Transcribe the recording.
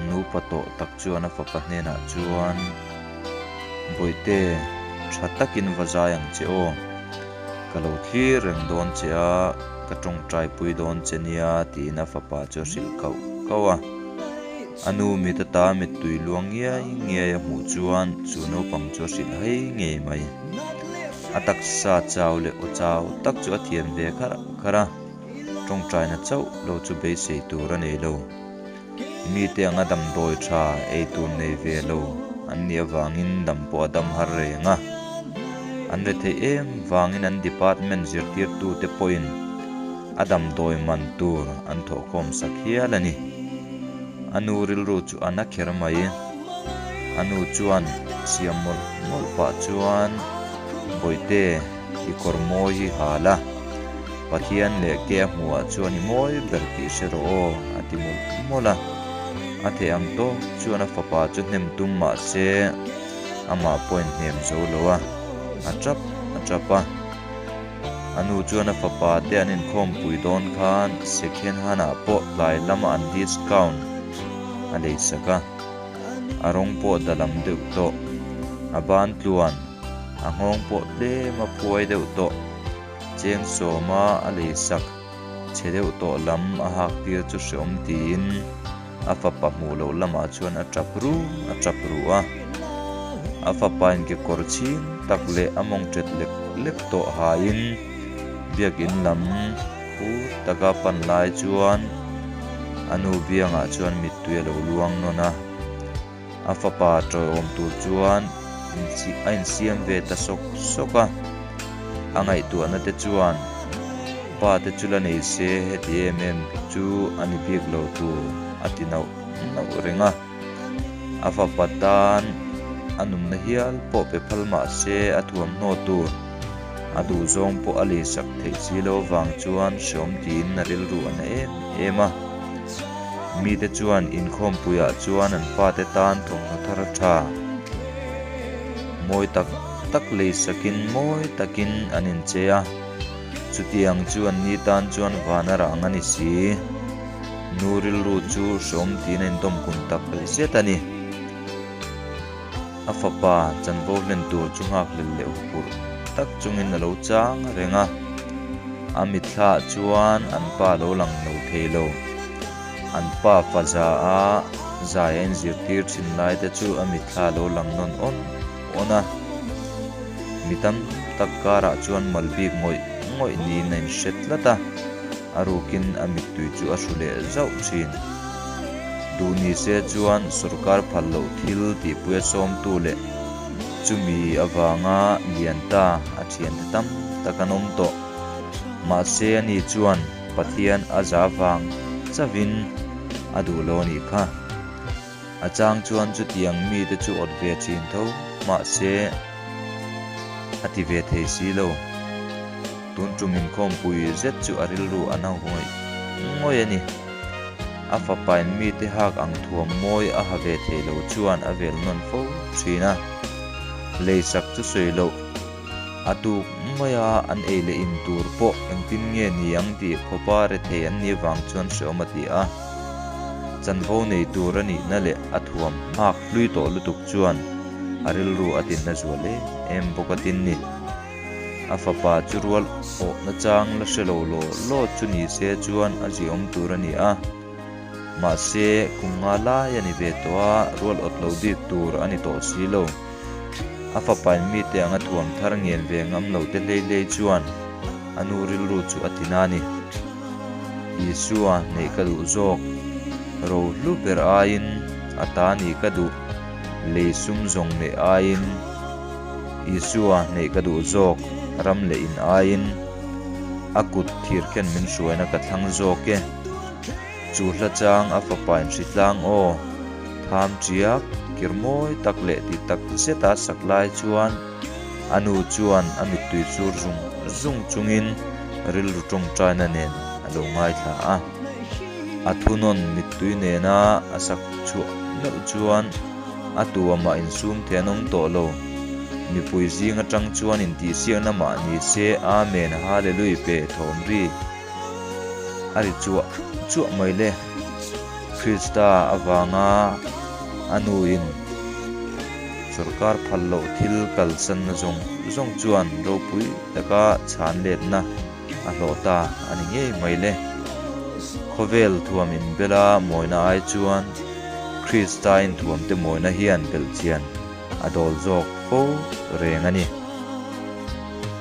Nupa tawh tak chuan a fapa hnenah chuan, Bawihte, tha takin va zai ang che aw. Ka lo thlir reng dawn che a, ka tawngtaipui dawn che nia, tiin a fapa chu a hrilh kauh kauh a. A nu mit ata mittui luang ngiai ngiai a hmuh chuan chu naupang chu a hrilh hai ngei mai. A taksa chau leh aw chau tak chu a thian ve khar khar a, tawngtaina chauh lo chu beisei tur a nei lo. Mite anga damdawi tha ei tur nei ve lo an nih avangin dam pawh a dam har reng a. An retheih em vangin an department zirtirtute pawhin. A damdawi man tur an thawhkhawm sak hial a ni. A nu rilru chu a na kher mai. A nu chuan siam mawlh mawlh pah chuan, Bawihte, i kawr mawi hi ha la. Pathian leh ke a hmuhah chuan i mawi ber tih hre rawh aw, a ti mawlh mawlh a. A theh ang tawh chuan a fapa chu hnem tum mahse, amah pawhin hnem zo lo a, a ṭap a ṭap a. A nu chuan a fapa te an inkhawmpui dawn khan second hand ah pawh tlai lam an discount a lei sak a, a rawng pawh da lam deuh tawh, a ban tluan, a nghawng pawh tlem a phuai deuh tawh, Cheng Sawma a lei sak. Che deuh tawh lam a hak tir chu hreawm tiin a fapa hmuh loh lamah chuan a tap ru a tap ru a. A fapain kekawr chhing tak leh a mawng ṭet lek lek tawh hain biakin lam phu taka pan lai chuan a nu biangah chuan mittui a lo luang nawn a. A fapa tawiawm tur chuan a insiam ve ta sawk sawk a. A ngaihtuahna te chuan, Pa te chu la nei se heti em em chu a ni bik lo tur a ti nauh nauh reng a. A fapa tan a numna hial pawh pe phal mah se a thuamhnaw tur a duh zawng pawh a lei sak theih si lo vang chuan hrawm tiin a rilru a na em em a. Mite chuan inkhawmpuiah chuan an pate tan thawmhnaw thar a tha. Mawi tak tak lei sakin mawi takin an inche a. Chutiang chuan ni tan chuan vana rang a ni si. Nu rilru chu hrawm tiin a indawm kum tak rilset a ni. A fapa chanvo hlen tur chu nghak lel leh huphurh tak chungin a lo chang a reng a. A mitthlah chuan an pa lo lang lo thei lo. An pa faza a zai a inzirtir thin lai te chu a mitthla lo lang nawn awn awn a. Mi tam tak karah chuan malbik ngawih ngawih niin a inhre tlat a. A rukin a mittui chu a hru leh zauh thin. Duh ni se chuan sorkar phal loh thil tihpui a sawmtu leh chumi avanga lian ta a thiante tam tak an awm tawh. Mahse a ni chuan Pathian a za vang chavin a duh lo a ni kha. A chang chuan chutiang mite chu awt ve thin tho, mahse a ti ve thei si lo. Tun tum inkhawmpui zet chu a rilru a na ngawih ngawih a ni. A fapain mite hak ang thuam mawi a ha ve thei lo chuan a vel nawn fo thin a. Lei sak chu sawi loh, a tuk mai a, an ei leh in tur pawh engtin nge ni ang tih fapa rethei an ni avang chuan hreawm a ti a. Chanvo nei tur a nihna leh a thuam nghak hlui tawh lutuk chuan a rilru a tinna zual em em bawk a tin ni. A fapa chu rual awhna chang la hre lo law law chu ni se chuan a ziaawm tur a ni a. Mahse, kum nga lai a ni ve tawh a, rual awt lo bik tur a ni tawh si lo. A fapa in mite anga thuam thar ngen ve ngam lo te hlei hlei chuan a nu rilru chu a tina a ni. Isua, neih ka duh zawk. Ro hlu ber aiin a ta nih ka duh. Lei sum zawng neh aiin Isua, neih ka duh zawk. Ram leh in aiin a kut thir khian min hruaina ka thlang zawk e. Chu hla chang a fapa in hri tlang aw. Tham chiak, kir mawi tak leh ti tak zet a sak lai chuan a nu chuan a mittui chur zung zung chungin rilru tawngtaina nen a lo ngaithla a. A thunawn mittui nena a sak chhuah meuh chuan a tuam a insum thei an awm tawh lo. Mipui zing atang chuan intihsiakna mah nise, Amen, Hallelui, pe thawm ri. a ri chuah chuah mai le. Krista avanga a nuin sorkar phal loh thil kalsanna zawng zawng chuan ropui taka chhanletna a hlawh ta a ni ngei mai le. Khawvel thuam inbela mawina ai chuan Krista inthuamte mawina hian belhchian a dawl zawk fo reng a ni.